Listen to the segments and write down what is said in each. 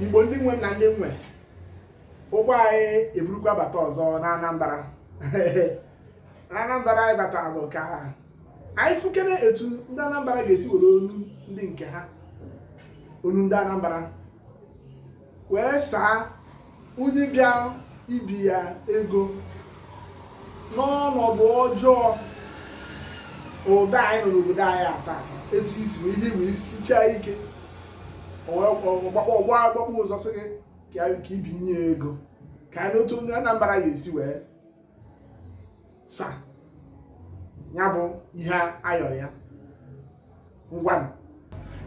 igbo ndị nwe na ndị nwe ụgbọ anyị eburukwa bata ọzọ na anambra na anambra anyị bata bụ ka anyị fụkere etu ndị anambra ga-esi were ọnụ ndị nke ha ọnụ ndị anambra wee saa onye bịa ibi ya ego n'ọnọdụ ọjọọ ụdị a anyị nọ n'obodo anyị taa etu isi bụ ihe wee sichaa ike ọgbakpọ agbakpọ ụzọ sị gị ka i binye ya ego ka anyị nụ otu ndị Anambra ga-esi wee sa ya bụ ihe a yọrọ ya ngwa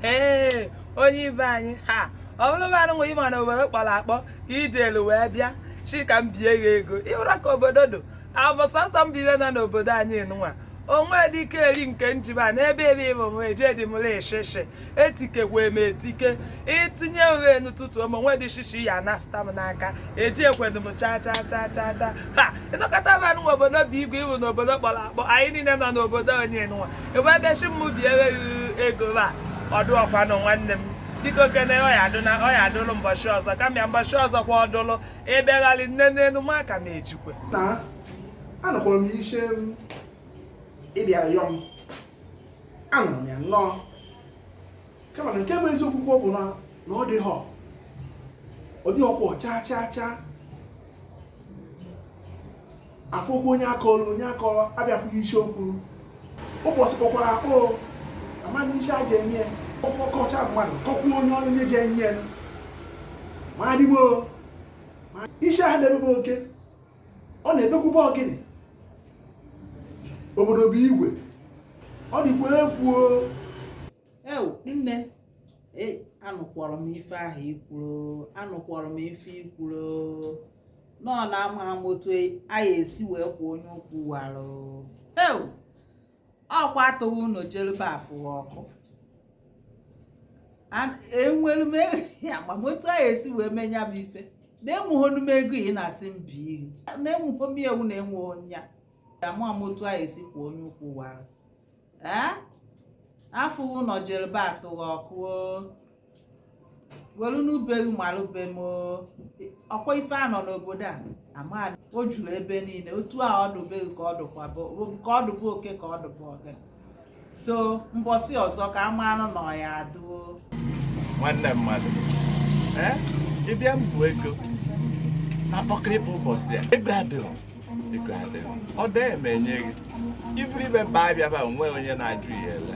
ee onye ibe anyị ha ọ bụrụ na anụnwụ ị ma na obodo kpọrọ akpọ ka ije elu wee bịa sị ka m bie ya ego ịbụra ka obodo do abụ sọsọ m bibe na n'obodo anyị nwa onwe dike eri nke njiba n'ebe ebe ịbụ m ejidị m etikekwa m etike ịtụnye ụgha enu tụtụ ma nwe dị shishi ya nafta m n'aka ejikwedu m cha cha cha cha cha ha ịnọkọta m anụ obodo bụ igwe iwu n'obodo kpọrọ akpọ anyị niile nọ n'obodo onye nwa ebe ebe shi m bi enweghị ego a ọdụ ọkwanụ nwanne m dịka okene ọ ya-adụ na ọ ya-adụlụ mbọchị ọzọ kama mbọchị ọzọ kwa ọdụlụ ịbịagharị nne n'elu ma aka m ejikwe na anọkwara m ishe m ị bịara yọọ m anụrụ m ya nnọọ kama na nke bụ eziokwu kwuo bụ na na ọ dịhọ ọ dịhọkwọ chaa chaa chaa afọ okwu onye aka ọrụ onye aka ọrụ abịakwụghị isi okwu ụbọchị kpọkwara akpọ amaghị isi a ji enye ya ọkọcha mmadụ kọkwuo onye ọrụ onye ji enye ya ma adịgbo isi ahụ na-emebe oke ọ na-ebekwuba ọ gịnị obodo bụ igwe ọ dịkwa egwu ewu nne e anụkwọrọ m ife ahụ i kwuru anụkwọrọ m ife i kwuru nọ na amaa m otu a ya-esi wee kwọ onye ukwu warụ ewu ọkwa atụghị ụnọ jelube afụghị ọkụ enwere m amaa m otu e, a ya-esi wee mee ya bụ ife na enwehọnụ m ego ị na-asị m bie ghụ na enwehọ m ewu na enweghị onya ama m otu a ya-esi kwọ onye ukwu wara afụghị ụlọ jerube atụghị ọkụ welu nụ be gị malụ be m ọkwa ife a nọ n'obodo a ama o juru ebe niile otu a ọ dụ be gị ka ọ dụkwa ka ọ dụ be oke ka ọ dụ be ogini to mbọsị ọzọ kama anụ na ọ ya-adụ o nwanne mmadụ ịbịa mbụ ego na kpọkịrịkpa ụbọchị a ego adịghị ọ dị eme enye gị iburu ife baa afịa ba nwe onye na-ajụ ya ele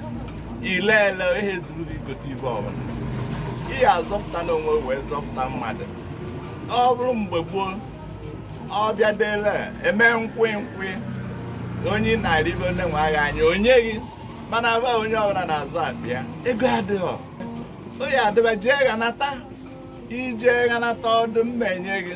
ile ele ihe zuru gị gote ife ọbụla ị ya-azọpụta n'onwe wee zọpụta mmadụ ọ bụrụ mgbe gboo ọbịa dele eme nkwị nkwị onye narị ife onye nwe agha anya onye gị mana aba onye ọbụla na-azụ afịa ego adịghọ onye adịba jee ghanata ije ghanata ọ dị mma enye gị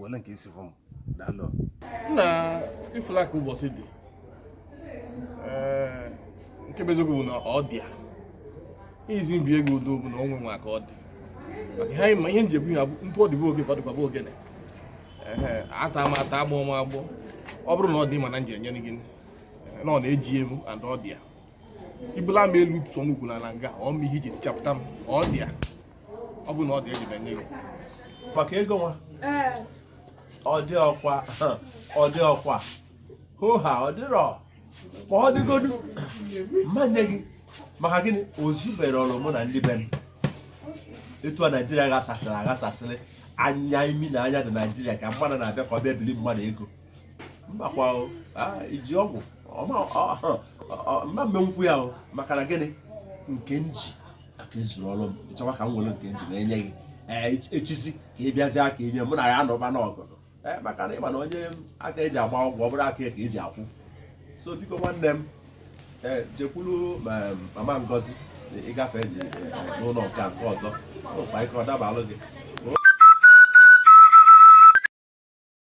wele nke isi fọm daalụ na ifula ka ụbọchị dị ee nke bụ eziokwu bụ na ọ dị ya easy ibi ego udo bụ na onwe nwa ka ọ dị maka ihe anyị ma ihe njem ihe ntụ ọ dịbụ oge ka ọ dịkwabụ ogene ee ata m ata agbọ m agbọ ọ bụrụ na ọ dị mana m ji enye gị na ọ na-eji emu and ọ dị ya ibula m elu sụọ m ukwu n'ala nga ọ m ihe iji tichapụta m ọ dị ya ọ bụ na ọ dị eji binye gị maka ego nwa ee ọ dịrọkwa ọ dịrọkwa hoha ọ dịrọ ma ọ dịgodu m ma-enye gị maka gịnị o zuberọrụ mụ na ndị be m etu a naijiria ghasasịrị aghasasịrị anya imi na anya dị naijiria ka mmadụ na-abịa ka ọ bịa bili mmadụ ego mbakwa o, ah, iji ụgwọ ọma- ọ- ọ- ọ- m ma-emenwukwa ya o maka na gịnị nke m ji aka ezurọrụ m ịchọwa ka m were nke m ji wee nye gị echizi ka ị bịazie aka inye mụ na ya anọba n'ọgọdọ maka na ịma na onye aka eji agba ụgwọ ọ bụrọ aka ka eji akwụ so biko nwanne m ee jekwuru mama ngozi ịgafe n'ụlọ nke nke ọzọ ụkwa ike ọ dabalụ gị